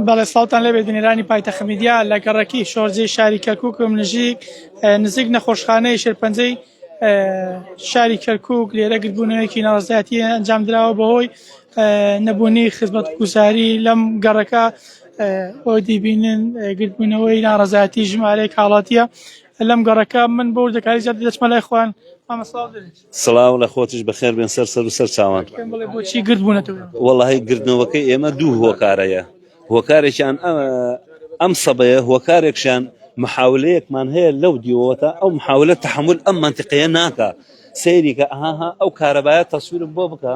بەڵێ ساڵتان لەبێ بینەرانی پایتە خمیدیا لە گەڕەکی شۆرجەی شاری کەرککم نژیک نزیک نەخۆشخانەی شێرپەنجەی شاری کەرکک لێرە گربوونەوەیەکی ناڕزایەتی ئەنجام درراوە بەهۆی نەبوونی خزمەت گوزاری لەم گەڕەکە بۆ دیبینن گرتبوونەوەی ناڕزایەتی ژمارەیە کاڵاتیە لەم گەڕەکە من بۆ دەکاری زیاد دەچمە لای خوان ئەمە ساڵ دەێت سڵاو لە خۆتیش بەخێر بێن سەر سەر و سەر چاوان پێم بڵێ بۆچی گرد بوونەتەوە وەڵی گردنەوەکەی ئێمە دوو هۆکارەیە هۆکارێکیان ئە- ئەم سەبەیە هۆکارێکشان محاولەیەکمان هەیە لەو دیوەتە ئەو محاولە تحمل ئەم منطقەیە ناکە سەیری کە ئەها ئەو کارەبایە تەسویرم بۆ بکە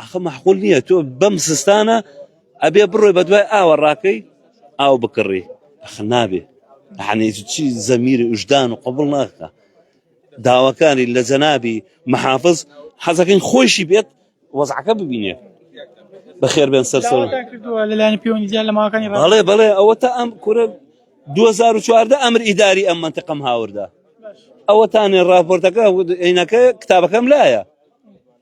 ئەخە مەحقول نییە تۆ بەم سستانە ئەبێ بڕۆی بە دوای ئاوە ڕاکەی ئاو بکڕی ئەخ نابێ یعنی چی زەمیری وژدان و قبول ناکە داواکانی لە جەنابی محافظ حەزەکەین خۆشی بێت وەزعەکە ببینێ بەخێر بێن سەر سەر داواتان کردووە لەلایەن پەیوەندی زیاد لە ماوەکانی ڕابردوو بەڵێ بەڵێ ئەوە تا ئەم کورە 2014 ئەمر ئیداری ئەم منتەقەم هاوردا باش ئەوەتانێ راپۆرتەکە عینەکە کتابەکەم لایە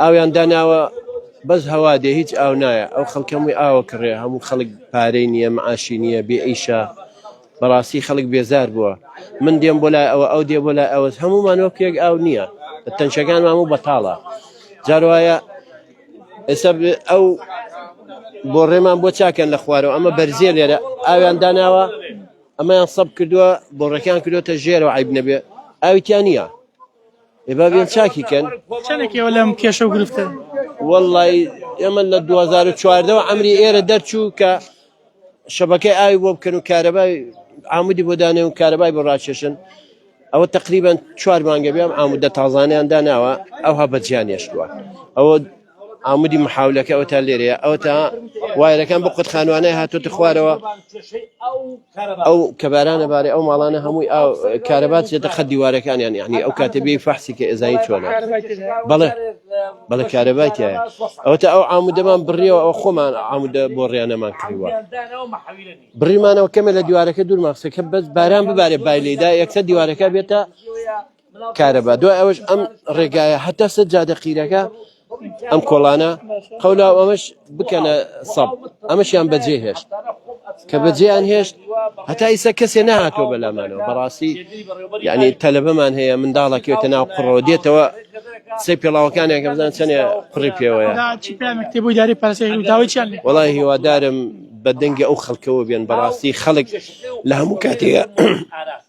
ئاویان داناوە بەس هەوا دێ هیچ ئاو نایە ئەو خەڵکەمووی ئاوە کڕێ هەموو خەڵک پارەی نییە معاشی نییە بێ ئیشە بەڕاستی خەڵک بێزار بووە من دێم بۆ لای ئەوە ئەو دێ بۆ لای ئەوەس هەمومان وەک یەک ئاو نییە تەنشەکان ماموو بەتاڵە جاروایە ئێستا ئەو بۆ ڕێمان بۆ چاکەن لە خوارەوە ئەمە بەرزیێ لێرە ئاویان داناوە ئەمەیان سەب کردووە بۆڕەکان کردوتە ژێرەوە عیب نەبێ ئاویان نییە ئێ با بێن چاکی کەن چەنێک ئێوە لەم کێشە و گرفتە وەڵڵی ئێمە لە 2014ەوە ئەمری ئێرە دەرچوو کە شەبەکەی ئاوی بۆ بکەن و کارەبای عمودی بۆ دانێ و کارەبای بۆ ڕاکێشن ئەوە تقریبان چوار مانگە بێم ئامودە تازانیان داناوە ئەوها بەجیان هێشتووە ئەوە عامودی محاولەکە ئەو تا لێرەیە ئەو تا وایرەکان بۆ قوت خانوانای هاتوتە خوارەوە ئەو کەبارانە بارێ ئەو ماڵانە هەمووی ئاو کارەبات چێتە خە دیوارەکانیان یعنی ئەو کاتێ بێ فەحسی کە ئێزایی چۆنە بەڵێ بەڵە کارەبای تایە ئەو تا ئەو عامودەمان بڕیەوە ئەو خۆمان عامودە بۆ ڕیانەمان کردووە بڕیمانەوە کەمە لە دیوارەکە دوور ماخسەکە بەس باران ببارێ بای لێدا یەکسە دیوارەکە بێتە کارەبا دوای ئەوەش ئەم ڕێگایە هەتا سەر جادە قیرەکە ئەم کۆڵانە قەولا ئەمەش بکەنە سەب ئەمەشیان بەجێ هێشت کە بەجێیان هێشت هەتا ئیسە کەسێ نهاتۆ بەلامانەوە بەڕاستی یعنی تەلبەمان هەیە منداڵەکەێتە ناو قڕەوە دێتەوە سەی پێڵاوەکانیان کە بزان چەند قڕی پێوەیە بۆی داری پارسەداویان وڵی هیوادارم بە دەنگی ئەو خەڵکەوە بێن بەڕاستی خەڵک لە هەموو کاتێک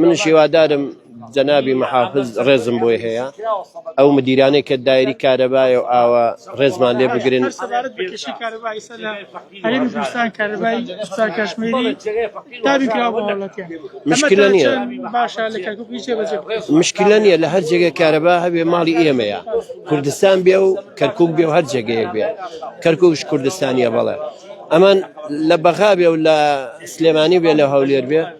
منش هیوادارم جەنابی محافز ڕێزم بۆی هەیە ئەو مدیرانەی کە دایری کارەبایە و ئاوە ڕێزمان لێ بگرن سەبارەت بە کێشەی کارەبای ئێستا لە هەرێمی کوردستان کارەبای سوپا کاشمیری دابین کراوە بۆ هەوڵەتیان مشکلە نییە باشە لە کەرکوک نیچێ بەجێ مشکلە نییە لە هەر جێگە کارەبا هەبێ ماڵی ئێمەیە کوردستان بێ و کەرکک بێ و هەر جێگەیەک بێ کەرککش کوردستانیە بەڵێ ئەمان لە بەغا بێ و لە سلێمانی بێ لە هەولێر بێ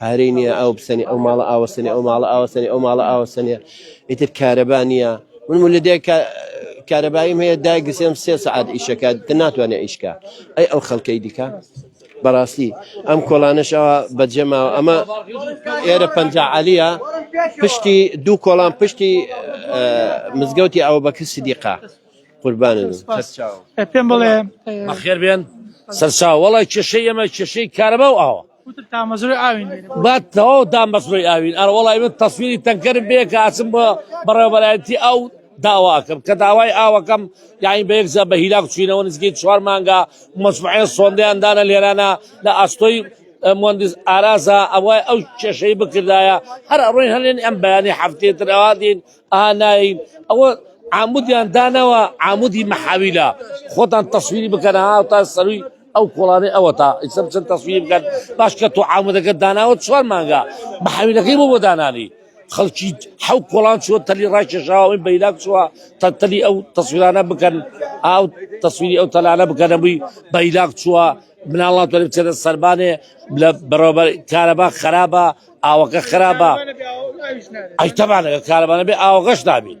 پارەی نییە ئاو بسەنی ئەو ماڵە ئاوەسەنی ئەو ماڵە ئاوەسەنی ئەو ماڵە ئاوەسەنێ ئیتر کارەبا نییە من مولدێ کارەباییم هەیە دایگرسێم سێ سعات ئیشەکە تە ناتوانێت ئیشکە ئەی ئەو خەڵکەی دیکە بەڕاستی ئەم کۆڵانەشەوە بەجێماوە ئەمە ئێرە پەنجعالیە پشتی دوو کۆڵان پشتی مزگەوتی ئەو بەکر سدیقا قوربان پێم بڵێ بەخێر بێن سەرچاوەڵی کێشەی ئەمە کێشەی کارەبا و ئاوە با تەواو دامەزرۆی ئاوین. ئەرەوەڵا ئیمن تەسویری تەنکەرم بێ کە ئەچم بە بەڕێوەبەرایەتی ئاو داوا ئەکەم کە داوای ئاوەکەم یانی بە یەک جا بە هیلاک چوینەوە نزیکەی چوار مانگە مەجموعەیە سۆندەیان دانە لێرانە لە ئەستۆی مهندس ئارازا ئەوای ئەو کێشەی بکردایە هەر ئەڕۆین هەلێن ئەم بەیانی هەفتەی تر ئەوا دین ئا ناین ئەوە عامودیان دانەوە عامودی مەحاویلە خۆتان تەسویری بکەن ها تا سەروی ئەو کۆڵانەی ئەوەتا ئیستا بچن تەسویری بکەن باش کە تۆ عامودەکەت داناوە چوار مانگا بە حەویلەکەی بۆ بۆ دانانی خەڵکی حەو کۆڵان چوە تەلی ڕاکێشاوە ئەوی بەیلاک چوە تا تەلی ئەو تەسویرانە بکەن ئاو تەسویری ئەو تەلانە بکەنە بووی بەیلاک چوە مناڵات وەری بچێتە سەربانێ لە بەڕێوەبەر کارەبا خراپە ئاوەکە خراپە ئەی تەبانەکە کارەبانە بێ ئاوەکەش نابێت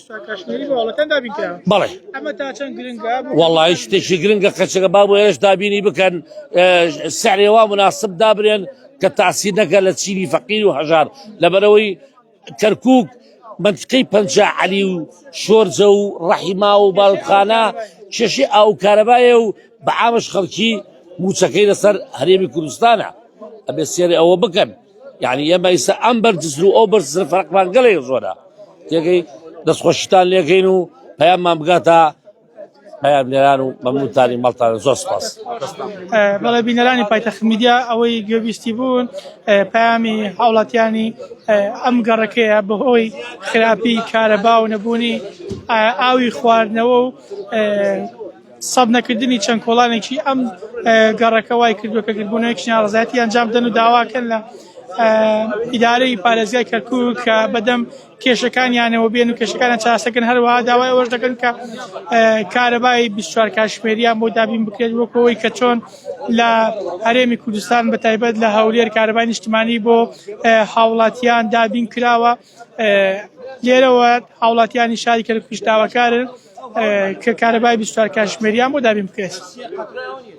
بەڵێ وەڵی شتێکی گرنگە کەچەکە با بۆ ئێش دابینی بکەن سەرێوا مناسب دابرێن کە تاسی نەکە لە چینی فەقیر و هەژار لەبەرەوەی کەرکک منتقی پنج علی و شۆرجە و ڕەحیما و باوخانە کێشی ئاو کارەبایە و بە ئامش خەڵکی موچەکەی لەسەر هەرێمی کوردستانە ئەبێ سێری ئەوە بکەن یعنی ئێمە ئیستا ئەم بەرزر و ئەو بەرزر فەرقمان گەلێ زۆرە تێگەی دەستخۆشیتان لێگەین و پەیاممان بگاتە پەیامنێران و مەمنونتانی مەڵتان زۆر سپاس بەڵێ بینەرانی پایتەخت میدیا ئەوەی گوێبیستی بوون پامی هاوڵاتیانی ئەم گەڕەکەیە بەهۆی خراپی کارەبا و نەبوونی ئاوی خواردنەوە و سەب نەکردنی چەند کۆڵانێکی ئەم گەڕەکە وای کردووە کە گردبوونەوەیەکی ناڕەزایەتی ئەنجام بدەن و داواکەن لە ئیدارەی پارێزگای کەرکووک کە بەدەم کێشەکانیانەوە بێن و کێشەکانە چاسەکەن هەروەها داوای ئەوەش دەکەن کە کارەبای 24 کاشمێریان بۆ دابین بکرێت وەکەوەی کە چۆن لە هەرێمی کوردستان بە تایبەت لە هەولێر کارەبای نیشتمانی بۆ هاوڵاتیان دابین کراوە لێرەوە هاوڵاتیانی شاری کەرکوک داواکارن کە کارەبای بیست و چوار کاتژمێریان بۆ دابین بکرێت.